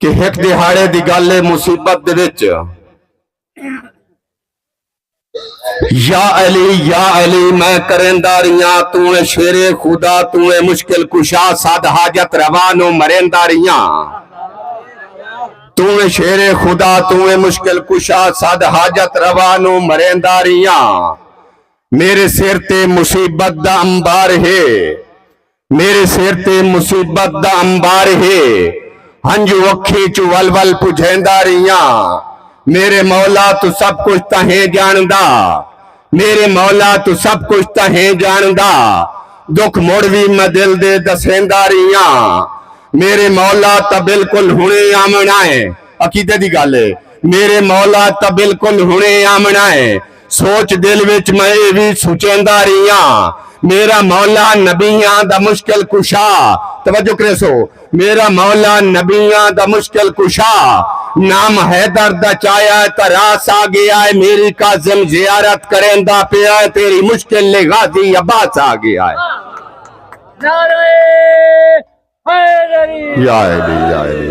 کہ ہک دیہاڑے دی گالھ اے مصیبت دے وچ یا علی یا علی میں کریندا ریاں توں اے شیر خدا توں اے مشکل کشا سد حاجت روا نو مریندا ریاں توں اے شیر خدا توں اے مشکل کشا سد حاجت روا نو مریندا ریاں میرے سر تے مصیبت دا امبار ہے میݙے سر تے مصیبت دا امبار ہے ہنجو اکھیں چوں ول ول پجھیندا رہیاں میݙے مولا توں سب کجھ تاں ہیں ڄاݨدا میݙے مولا توں سب کجھ تاں ہیں ڄاݨدا ݙکھ مڑ وی میں دل دے ݙسیندا رہیاں میݙے مولا تاں بالکل ہݨے آوݨا ہے عقیدے دی ڳالھ ہے میݙے مولا تاں بالکل ہݨے آوݨا ہے سوچ دل وچ میں ایہ وی سوچیندا ریہاں میرا مولا نبیاں دا مشکل کشا توجہ کریسو میرا مولا نبیاں دا مشکل کشا نام حیدر دا چایا ہے تا راس آ گیا ہے میری کاظم زیارت کریندا پیا ہے تیری مشکل لے غازی عباس آ گیا ہے نعرہ حیدری یا علی یا علی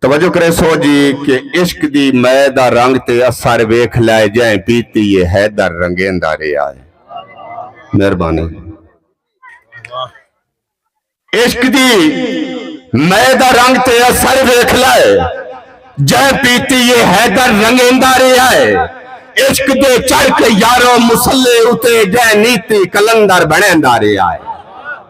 توجہ کریسو جی کہ عشق دی مئے دا رنگ تے اثر ویکھ لائے جیں پیتی اے حیدر رنگیندا رہیا اے مہربانی عشق دی مئے دا رنگ تے اثر ویکھ لائے جیں پیتی اے حیدر رنگیندا رہیا اے عشق دے چڑھ کے یارو مسلے اتے جیں نیتی کلندر بنیندا رہیا اے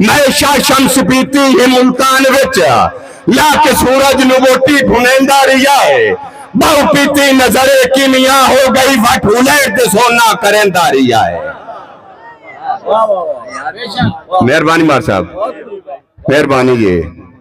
میشا شمس پیتی ہی ملتان وچ لا کے سورج نو ووٹی بھنیندا رہیا ہے بہو پیتی نظر کیمیا ہو گئی وٹ ہلیٹ دے سونا کریندا رہیا ہے مہربانی مار صاحب مہربانی یہ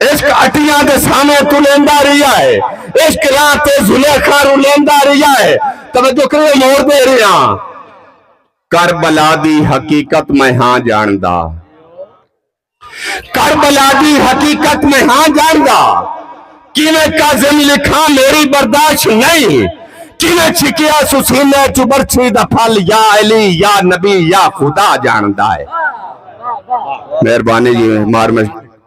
عشق اٹیاں دے سامیں تو لیندا رہیا ہے عشق راہ تے زلیخا رو لیندا رہیا ہے توجہ کرو مور دے رہیا کربلا دی حقیقت میں ہاں جاندا کربلا دی حقیقت میں ہاں جاندا کیویں کازم لکھاں میری برداشت نہیں کیویں چھکیا سسینے چبرچھی دا پھل یا علی یا نبی یا خدا جاندا ہے مہربانی جی مار میں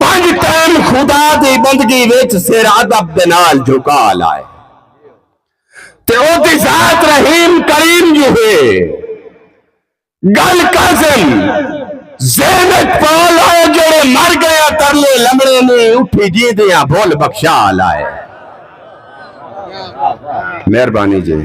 پنج ٹائم خدا دی بندگی وچ سر ادب دے نال جھکا لائے تے او دی ذات رحیم کریم جو ہے گل کازم ذہن وچ پا لائے جڑے مر گئیاں ترلے لمڑے نے اٹھی جیندیاں بھول بخشا لائے مہربانی جی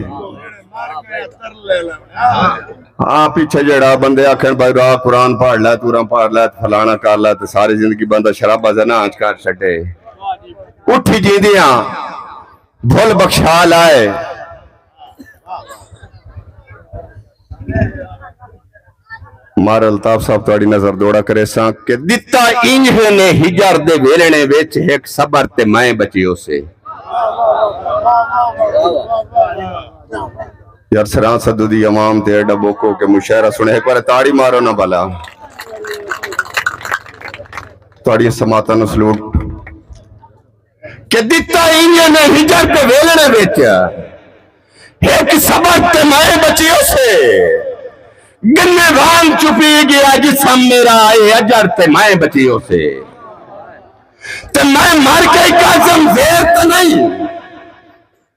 ہاں پیچھے جیڑھا بندے آکھن بھائی را قرآن پڑھ لے تورا پڑھ لے فلانا کر لے تے ساری زندگی بندہ شرابا زنا آنچ کر چھٹے اٹھی جیندیاں بھول بخشا لائے مار الطاف صاحب تاری نظر دوڑا کرے ساں کہ دیتا انجھے نے ہجر دے ویلنے ویچ ایک صبر تے مائیں بچیو سے یار سران صدو دی عوام تے ایڈا بوکو کہ مشاعرہ سنے ایک بار تاڑی مارو نہ بھلا تاڑی سماتا نو سلوٹ کہ دیتا انجے نے ہجر تے ویلنے بیچیا ایک سبر تے مائے بچی اسے گنے بھان چپی گیا جی سم میرا آئے اجر تے مائے بچی اسے تے میں مار کے کازم زیر تے نہیں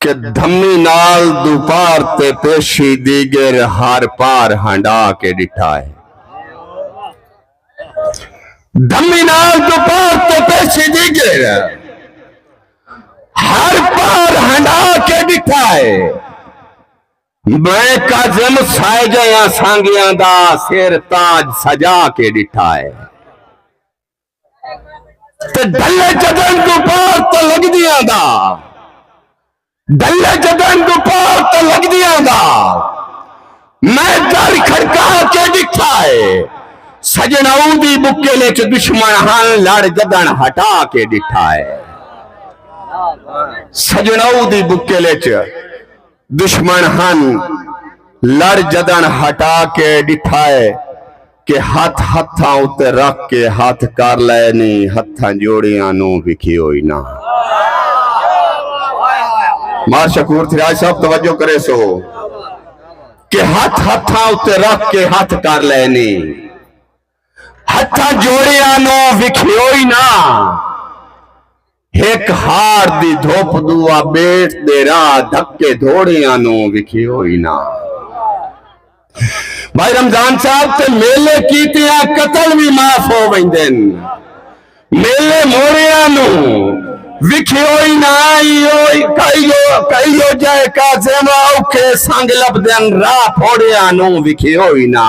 کہ دھمی نال دوپار تے پیشی دیگر ہر پار ہنڈا کے ڈٹھا ہے دھمی نال دوپار تے پیشی دیگر ہر پار ہنڈا کے ڈٹھا ہے میں کازم سائے جیاں سانگیاں دا سیر تاج سجا کے ڈٹھا ہے تے ڈھلے جدن تو پار تے لگدیاں دا ڈھلے جدن تو پار تے لگدیاں دا میں در کھڑکا کے ڈٹھا ہے سجن او دی بکل وچ دشمن ہن لڑ جدن ہٹا کے ڈٹھا ہے سجن او دی بکل وچ دشمن ہن لڑ جدن ہٹا کے ڈٹھائے کہ ہتھ ہتھاں اتے رکھ کے ہتھ کر لائے نی ہتھاں جوڑیاں نو بکھی ہوئی نا مار شکور تھی آج سب توجہ کرے سو کہ ہتھ ہتھاں اتے رکھ کے ہتھ کر لائے نی ہتھاں جوڑیاں نو بکھی ہوئی نا ہک ہاڑ دی دھپ دوا بیٹ دے راہ دھکے دھوڑیاں نو وکھی ہوئی نا بھائی رمضان صاحب تے میلے کیتیاں قتل بھی معاف ہو ویندن میلے موڑیاں نو وکھی ہوئی نا ایو کئیو کئیو جائے کازیما اوکھے سنگ لبدن راہ پھوڑیاں نو وکھی ہوئی نا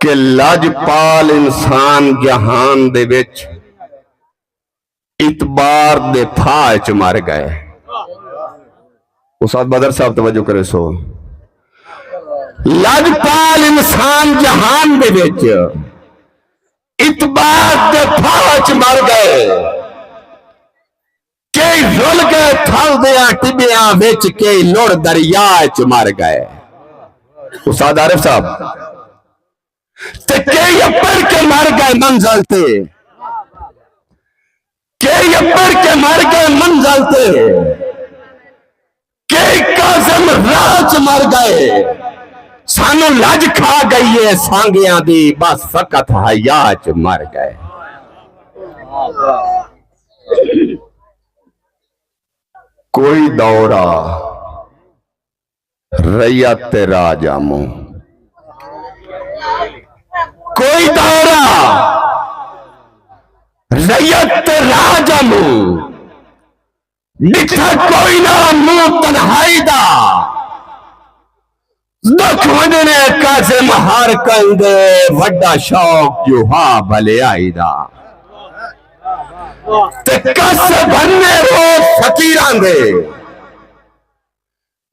کہ لجپال انسان جہان دے وچ اعتبار دے پھا وچ مر گئے استاد بدر صاحب توجہ کرے سو لجپال انسان جہان دے وچ اعتبار دے پھا وچ مر گئے کئی رل گئے تھل دیاں ٹبیاں وچ کئی لڑ دریا وچ مر گئے استاد عارف صاحب تے کئی اپڑ کے مر گئے منزل تے کئی اپڑ کے مر گئے منزل تے کہ کاظم راہ چ مر گئے سانوں لج کھا گئی ہے سانگیاں دی بس فقط حیا چ مر گئے کوئی دورہ ریت راجا مو کوئی دورہ ریت راجا مو لکھا کوئی نہ مو تنہائی دا دکھ ونجنے قاسم ہر کئی دے وڈا شوق جو ہا بھلے آئی دا تے کس بھنے رو فقیران دے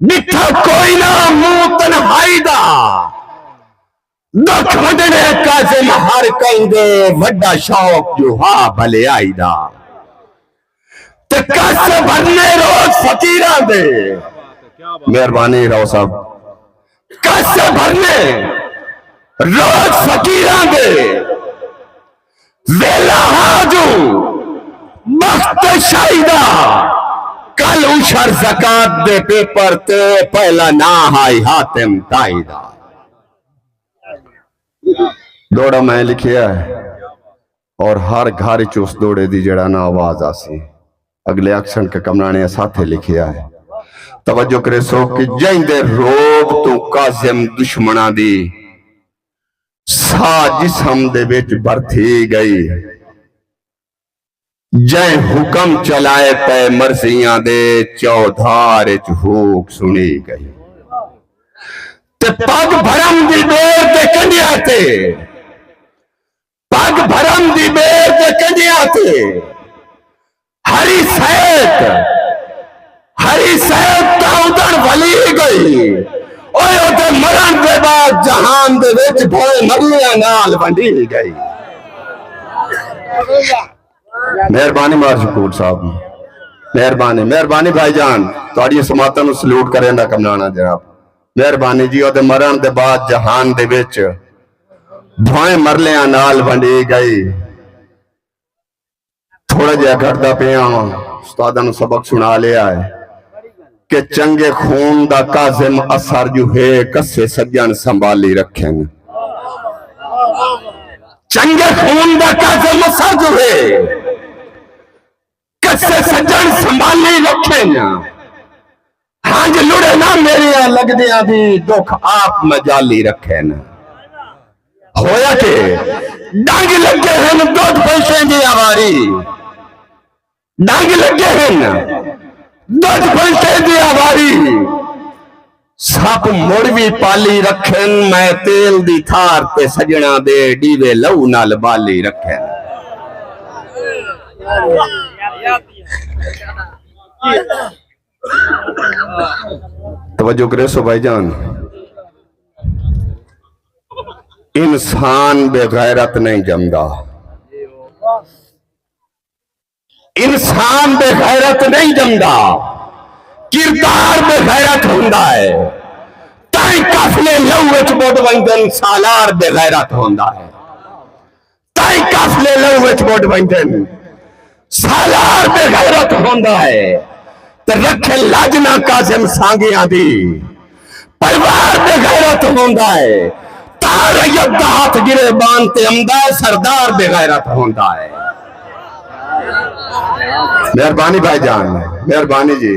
ڈٹھا کوئی نہ منہ تنہائی دا دکھ وڈنے کازم ہر کئی دے وڈا شوق جو ہا بھلے آئی دا تے کس بھرنے روز فقیران دے مہربانی رو صاحب کس بھرنے روز فقیران دے ویلا ہا جو مخت شاہی دا کل اشر زکات دے پیپر تے پہلا نا ہائی حاتم تائی دا دوڑا میں لکھیا ہے اور ہر گھر چوس دوڑے دی جڑا نا آواز آسی اگلے اکشن کا کمرانے ساتھے لکھیا ہے توجہ کرے سو کہ جائیں دے روب تو قاسم دشمنہ دی سا جسم دے وچ برتھی گئی جے حکم چلائے پے مرضیاں دے چودھار وچ ہوک سنی گئی تے پگ بھرم دی بیر تے کنڈیا تے پگ بھرم دی بیر تے کنڈیا تے ہری سید ہری سید دا ادن ولی گئی اوہ ادھے مرن دے بعد جہان دے وچ بھوئے نبیہ نال بندی گئی مہربانی مار شکور صاحب مہربانی مہربانی بھائی جان تو آڑی سماتا نو سلوٹ کریں دا کم نانا جناب مہربانی جی ادھے مرن دے بعد جہان دے وچ بھوئے مرلیاں نال بندی گئی تھوڑا جہا گھٹدا پیا ہاں استاداں نو سبق سنا لیا ہے کہ چنگے خون دا کازم اثر جو ہے کسے سجن سنبھالی رکھن چنگے خون دا کازم اثر جو ہے کسے سجن سنبھالی رکھن ہنج لڑے نہ میریاں لگدیاں دی دکھ آپ مجالی رکھے نہ ہویا کہ ڈنگ لگے ہن دودھ پیسے دی آواری ڈنگ لگے ہن دودھ پیسے دی آواری سب مڑ بھی پالی رکھن میں تیل دی تھار تے سجنا دے ڈیوے لو نال بالی رکھن Yeah. توجہ کرے سو بھائی جان انسان بے غیرت نہیں جمدا انسان بے غیرت نہیں جمدا کردار بے غیرت ہوندا ہے تائیں کافلے لو وچ بڈ ویندن سالار بے غیرت ہوندا ہے تائیں قافلے لہو وچ مڈ ویندن سالار بے غیرت ہوندا ہے تے رکھے لاجنا کاظم سانگیاں دی پروار بے غیرت ہوندا ہے تا ریت دا ہاتھ گرے بان تے امدا ہے سردار بے غیرت ہوندا ہے مہربانی بھائی جان مہربانی جی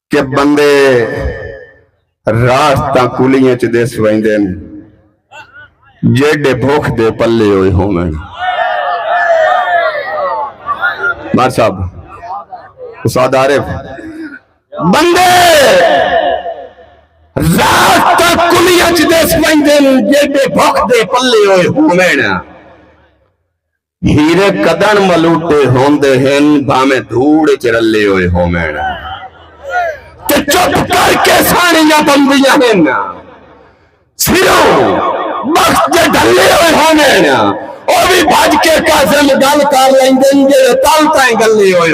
کہ بندے راست تاں کلیاں چ دیس ویندے ہیں جیڈے بھوک دے پلے ہوئے ہوں میں مار صاحب اساد عارف بندے راست تاں کلیاں چ دیس ویندے ہیں جیڈے بھوک دے پلے ہوئے ہوں میں ہیرے کدݨ ملوٹے ہوندے ہن بھانویں دھوڑ اچ رلے ہوئے ہوون تے چپ کر کے ساݨیاں بندیاں ہن سروں بخت دے ڈھلے ہوئے ہوون او وی بھج کے کاظم گل کر لیندن جیڑھے تل تائیں گلے ہوئے